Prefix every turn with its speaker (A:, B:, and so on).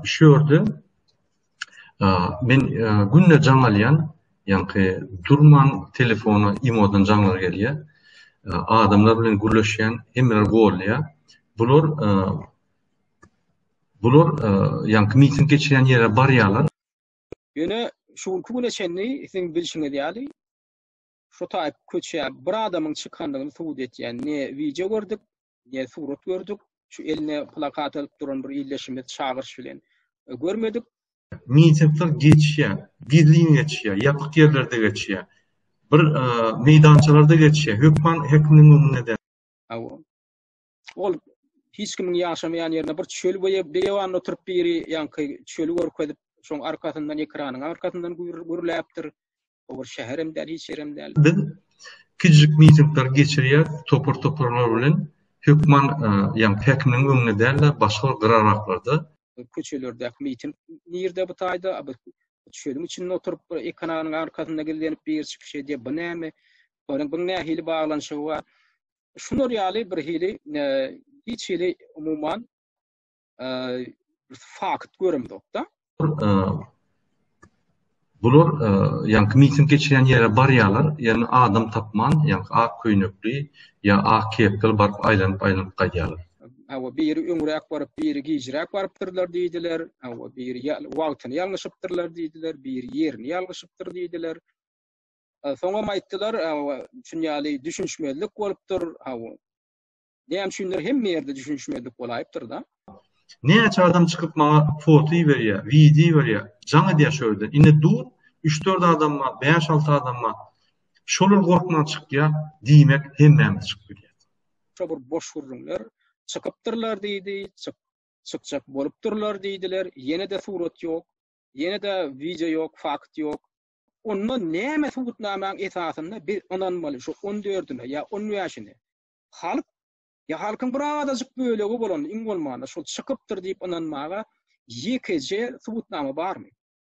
A: Şu ýerde men günde jaň alýan, ýaňky durman telefona imodan jaňlar gelýär. Adamlar bilen gürleşýän, hemmeler goldýar. Bular bular ýaňky miting geçirýän ýere barýarlar. Ýöne
B: şu günki güne çenli siziň bilşiňiz ýaly şu taýyp köçä bir adamyň çykandygyny subut etýän ne wideo gördük, Diýen surat gördük. Şu eline plakat alyp duran bir ildeşimiz çagyryş bilen görmedik. Mitingler
A: geçýär. Gizlin geçýär. Ýapyk ýerlerde geçýär. Bir meýdançalarda geçýär. Hökman häkimiň öňünde däl. Hawa.
B: Ol hiç kimiň ýaşamaýan ýerinde bir çöl beýewanda oturyp biri ýaňky çöli görkezip, şoň arkasyndan ekranyň arkasyndan gürläpdir. O bir şäher hem däl, hiç ýer hem däl. Biz
A: kiçijik mitingler geçirýäris, topar-toparlar bilen, hökman, ýagny häkimiň öňünde däl-de, başga bir gyraraklarda. Köçelerdäki
B: miting nirde bu taýda? Biz çölüň içinde oturyp, bir ekananyň arkasynda gizlenip biri çykyş edýär. Bu näme? Olaryň biň nähili baglanyşygy bar? Şular ýaly birhili, hiç hili umuman, fakt göremzokda.
A: Bular ýaňky miting geçiren ýere barýarlar, ýöne adam tapman, ýaňky ak köýnekli ýa ak kepkeli baryp aýlanyp-aýlanyp gaýdýarlar. Hawa, biri
B: öňräk baryp, biri gijräk barypdyrlar diýdiler. Hawa, biri wagtyny ýalňyşypdyrlar diýdiler, biri ýerini ýalňyşypdyr diýdiler. Soňam aýtdylar, düşünýärli düşünişmezlik bolupdyr. Hawa. Näme üçindir hemme ýerde düşünişmezlik bolaýypdyr-da. Näçe adam
A: çykyp maňa foto iberýär, wideo iberýär, jaň edýär şu ýerde. Indi dur, üç-dört adam bar, bäş-alty adam bar. Şolar gorkman çykýar, diýmek hemmämiz çykyp bilýäris. Şo bir boş
B: gürrüňler çykypdyrlar diýdi, çyk, çykjak bolupdyrlar diýdiler, ýene-de surat ýok, ýene-de wideo ýok, fakt ýok. Onda näme subutnamaň esasynda biz ynanmaly şu on dördüne ýa on bäşine? halk ýa halkyň bir azajyk bölegi bolan iň bolmanda şol çykypdyr diýip ynanmaga ýekeje subutnama barmy?